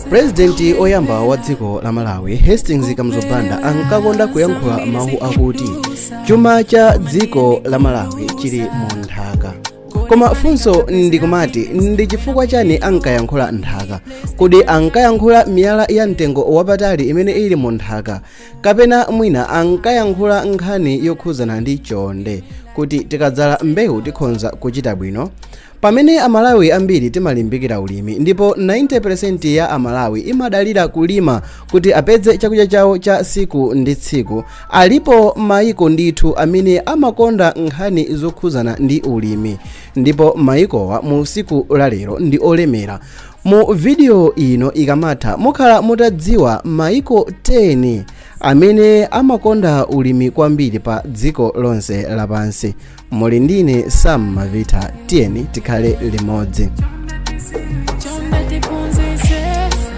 purezidenti oyamba wa dziko la malawi hastings kamuzu banda ankakonda kuyankhula mawu akuti chuma cha dziko la malawi chili mu nthaka koma funso ndikumati ndi chifukwa chani ankayankhula nthaka kodi ankayankhula miyala ya mtengo wapatali imene ili mu nthaka kapena mwina ankayankhula nkhani yokhudzana ndi chonde kuti tikadzala mbewu tikhonza kuchita bwino pamene amalawi ambiri timalimbikira ulimi ndipo 90% ya amalawi imadalira kulima kuti apeze chakudya chawo cha tsiku ndi tsiku alipo maiko ndithu amene amakonda nkhani zokhudzana ndi ulimi ndipo maikowa mu tsiku lalero ndi olemera Mu video ino ikamatha mukhala mutadziwa maiko 10 amene amakonda ulimi kwambiri pa dziko lonse lapansi. Muli ndine Sam Mavitha, tiyeni tikhale limodzi.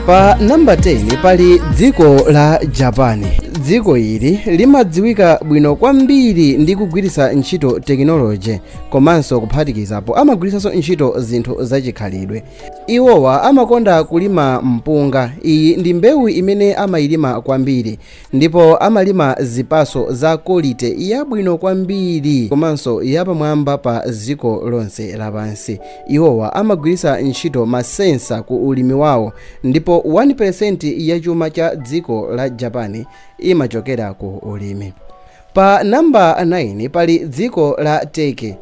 Pa namba 10 pali dziko la Japan. Dziko ili limadziwika bwino kwambiri ndi kugwiritsa ntchito tekinoloji komanso kuphatikizapo amagwiritsanso ntchito zinthu zachikhalidwe iwowa amakonda kulima mpunga iyi ndi mbewu imene amayilima kwambiri ndipo amalima zipaso za quality yabwino kwambiri komanso yapamwamba pa dziko lonse lapansi iwowa amagwiritsa ntchito masensa ku ulimi wawo ndipo 1% ya chuma cha dziko la japan imachokera ku ulimi Pa namba 9 pali dziko la Turkey.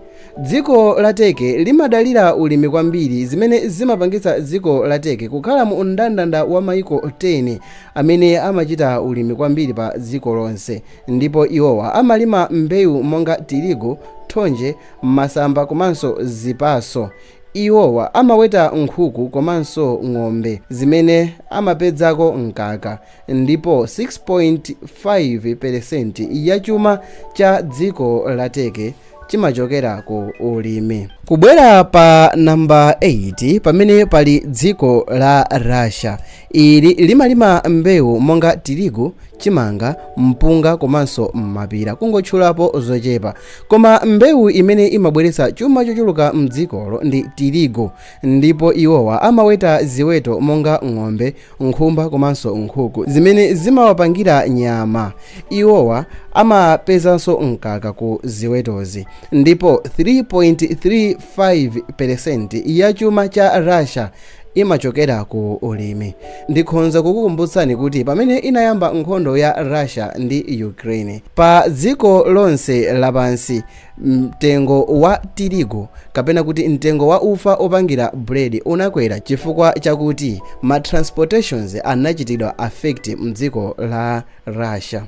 Dziko la Turkey limadalira ulimi kwambiri zimene zimapangitsa dziko la Turkey kukhala mu mndandanda wa maiko 10 amene amachita ulimi kwambiri pa dziko lonse ndipo iwowa amalima mbewu monga tirigu, thonje, masamba komanso zipaso. Iwowa amaweta nkhuku komanso ng'ombe zimene amapedzako mkaka. ndipo 6.5 peresenti ya chuma cha dziko la Turkey chimachokera ku ulimi. Kubwera pa namba 8 pamene pali dziko la Russia. Ili limalima mbewu monga tirigu, chimanga, mpunga komanso mapira kungotchulapo zochepa. Koma mbewu imene imabweretsa chuma chochuluka m'dzikolo ndi tirigu ndipo iwowa amaweta ziweto monga ng'ombe, nkhumba komanso nkhuku zimene zimawapangira nyama iwowa amapezanso mkaka ku ziwetozi ndipo 3.35 peresenti ya chuma cha russia imachokera ku ulimi ndikhonza kukukumbutsani kuti pamene inayamba nkhondo ya russia ndi ukraine pa dziko lonse lapansi Mtengo wa tirigu, kapena kuti mtengo wa ufa opangira bread unakwera chifukwa chakuti ma transportations anachitidwa affect mdziko la Russia.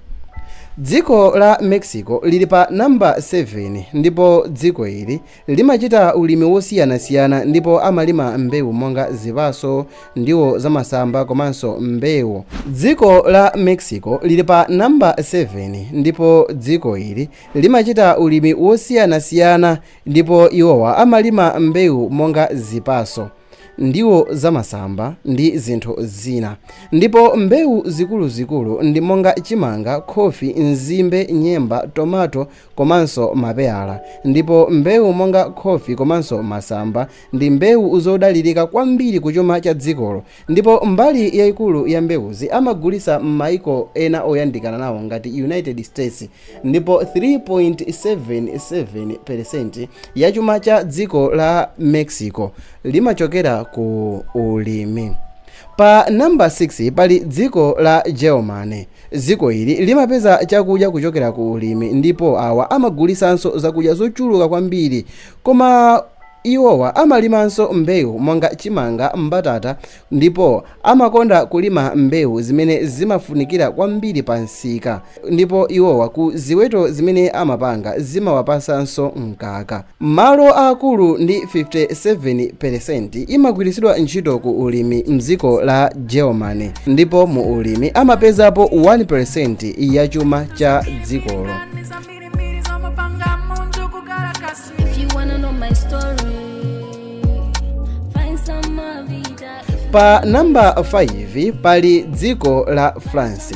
Dziko la Mexico lili pa number 7 ndipo dziko ili limachita ulimi wosiyanasiyana ndipo amalima mbewu monga zipaso, ndiwo zamasamba komanso mbewu. Dziko la Mexico lili pa number 7 ndipo dziko ili Limachita ulimi wosiyanasiyana ndipo iwowa amalima mbewu monga zipaso, ndiwo zamasamba ndi zinthu zina. Ndipo mbewu zikuluzikulu ndi monga chimanga, khofi, nzimbe, nyemba, tomato komanso mapeyala. Ndipo mbewu monga khofi komanso masamba ndi mbewu zodalirika kwambiri kuchuma cha dzikolo Ndipo mbali yaikulu ya mbewuzi amagulitsa m'mayiko ena oyandikana nawo ngati United States, ndipo 3.77 peresenti ya chuma cha dziko la Mexico limachokera ku ulimi. Pa namba 6 pali dziko la Germany. Dziko ili limapeza chakudya kuchokera ku ulimi ndipo awa amagulitsanso zakudya zochuluka kwambiri koma Iwowa amalimanso mbewu monga chimanga, mbatata ndipo amakonda kulima mbewu zimene zimafunikira kwambiri pa msika ndipo iwowa ku ziweto zimene amapanga zimawapasanso mkaka. Malo aakulu ndi 57 peresenti imagwiritsidwa ntchito ku ulimi m'dziko la Germany ndipo mu ulimi amapezapo 1 peresenti ya chuma cha dzikolo. Pa namba 5 pali dziko la france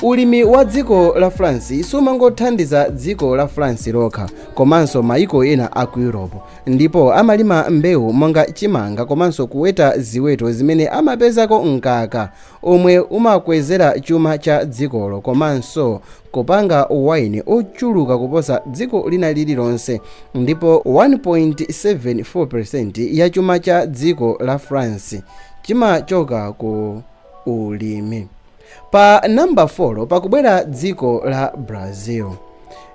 ulimi wa dziko la france sumangothandiza dziko la france lokha komanso maiko ena a ku europe ndipo amalima mbewu monga chimanga komanso kuweta ziweto zimene amapezako mkaka omwe umakwezera chuma cha dzikolo komanso kupanga wine ochuluka kuposa dziko lina lililonse, ndipo 1.74% ya chuma cha dziko la France chimachoka ku ulimi. Pa namba 4 pakubwera dziko la Brazil,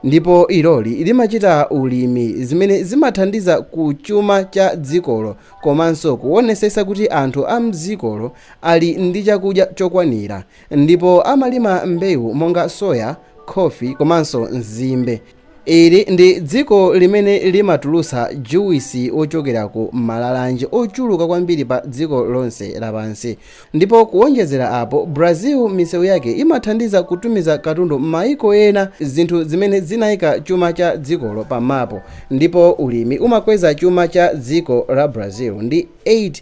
ndipo iloli limachita ulimi, zimene zimathandiza ku chuma cha dzikolo komanso kuonesetsa kuti anthu a m'dzikolo ali ndi chakudya chokwanira. ndipo amalima mbewu monga soya, khofi komanso nzimbe. Ili ndi dziko limene limatulutsa juwisi wochokera ku malalanje ochuluka kwambiri padziko lonse lapansi. Ndipo kuwonjezera apo, Brazil misewu yake imathandiza kutumiza katundu m'mayiko ena, zinthu zimene zinaika chuma cha dzikolo pamapu. Ndipo ulimi umakweza chuma cha dziko la Brazil ndi 8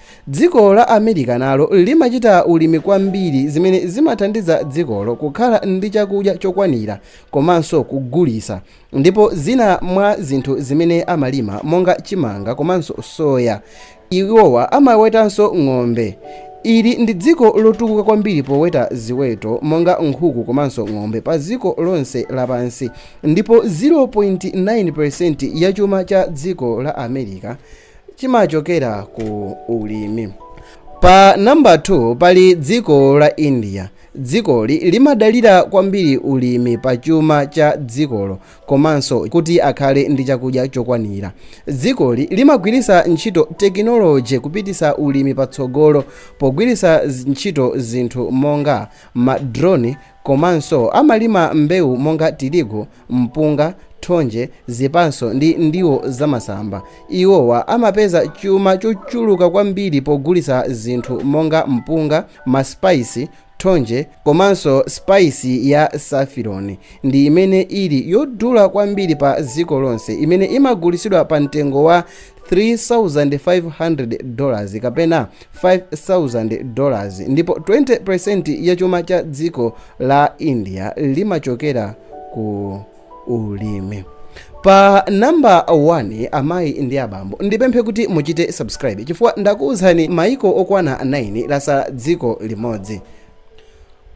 Dziko la America nalo limachita ulimi kwambiri zimene zimathandiza dzikolo kukhala ndi chakudya chokwanira komanso kugulitsa ndipo zina mwa zinthu zimene amalima monga chimanga komanso soya. Iwowa amawetanso ng'ombe. Ili ndi dziko lotukuka kwambiri poweta ziweto monga nkhuku komanso ng'ombe pa dziko lonse lapansi ndipo 0.9% ya chuma cha dziko la America chimachokera ku ulimi pa namba 2 pali dziko la india dzikoli limadalira kwambiri ulimi pa chuma cha dzikolo komanso kuti akhale ndi chakudya chokwanira dzikoli limagwiritsa ntchito tekinoloji kupititsa ulimi patsogolo pogwiritsa ntchito zinthu monga madroni komanso amalima mbewu monga tirigu mpunga, thonje, zipatso ndi ndiwo zamasamba. Iwowa amapeza chuma chochuluka kwambiri pogulitsa zinthu monga mpunga, masipaisi, thonje komanso sipaisi ya safironi ndi imene ili yodula kwambiri pa dziko lonse imene imagulitsidwa pa mtengo wa 3,500 dollars kapena 5,000 dollars ndipo 20% ya chuma cha dziko la India limachokera ku ulimi pa namba 1 amayi ndi abambo ndipemphe kuti muchite subscribe chifukwa ndakuwuzani maiko okwana 9 latsala dziko limodzi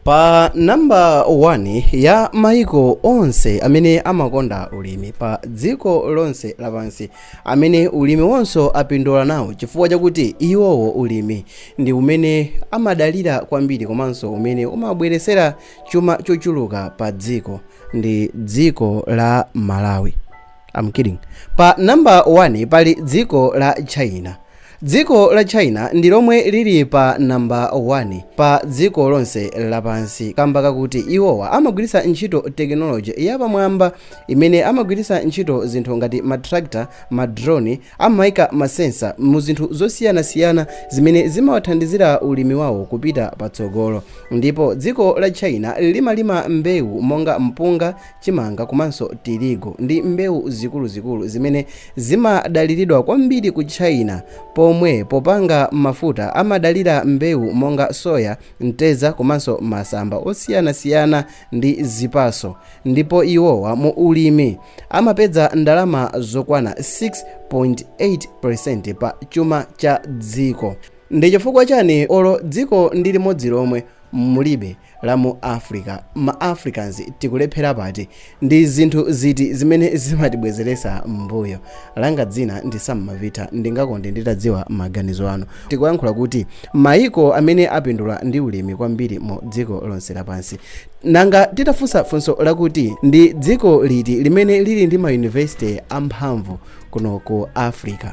pa namba 1 ya maiko onse amene amakonda ulimi pa dziko lonse lapansi amene ulimi wawonso apindula nawo chifukwa chakuti iwowo ulimi ndi umene amadalira kwambiri komanso umene umabweretsera chuma chochuluka pa dziko ndi dziko la malawi I'm kidding. pa namba 1 pali dziko la china Dziko la China ndi lomwe lili pa number 1 pa dziko lonse lapansi kamba kakuti iwowa amagwiritsa ntchito technology ya pamwamba imene amagwiritsa ntchito zinthu ngati ma tractor, ma drone, amaika ma sensor mu zinthu zosiyanasiyana zimene zimawathandizira ulimi wawo kupita patsogolo ndipo dziko la China limalima mbewu monga mpunga, chimanga komanso tirigu ndi mbewu zikuluzikulu zimene zimadaliridwa kwambiri ku China pomwe popanga mafuta amadalira mbewu monga soya, mtedza komanso masamba osiyanasiyana ndi zipaso ndipo iwowa mu ulimi amapeza ndalama zokwana 6.8% pa chuma cha dziko. Ndi chifukwa chani olo dziko ndi limodzi lomwe mulibe la mu Africa, ma Africans tikulephera pati? Ndi zinthu ziti zimene zimatibwezeresa m'mbuyo? Langa dzina ndi Sam Mavitha, ndingakonde nditadziwa maganizo anu. Tikuyankhula kuti maiko amene apindula ndi ulimi kwambiri mu dziko lonse lapansi. Nanga titafunsa funso lakuti ndi dziko liti limene lili ndi ma university amphamvu kuno ku Africa?